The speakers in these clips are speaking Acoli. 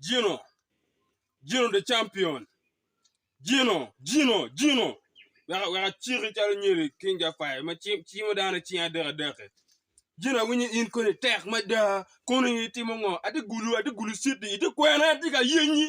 Gino, Gino the champion, Gino, Gino, Gino. Weka weka ciki calo nyiri King Jafai ma ci- cimo dano cing adek adek-ki. Gino awinyo in koni tek mada, koni itimo ngo? Ati gulu, ati gulu citi, iti kwena, ati ka yenyi.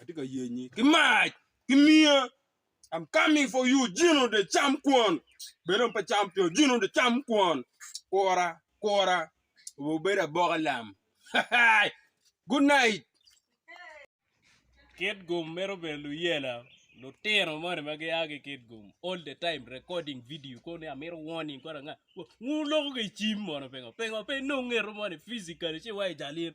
Atye ka yenyi ki mac ki miya. I'm coming for you Gino de cam kwon. Bed dong pe cam pio Gino de cam kwon. Kura kura obed aboka lam. Good night. Kitgum mito bedo luyela lutino moni ma gia ki Kitgum all the time recording video kono ni amito warning kore anga wun loko ki cim mono pingo pingo pe inong ngeto moni physically ci wa i jal in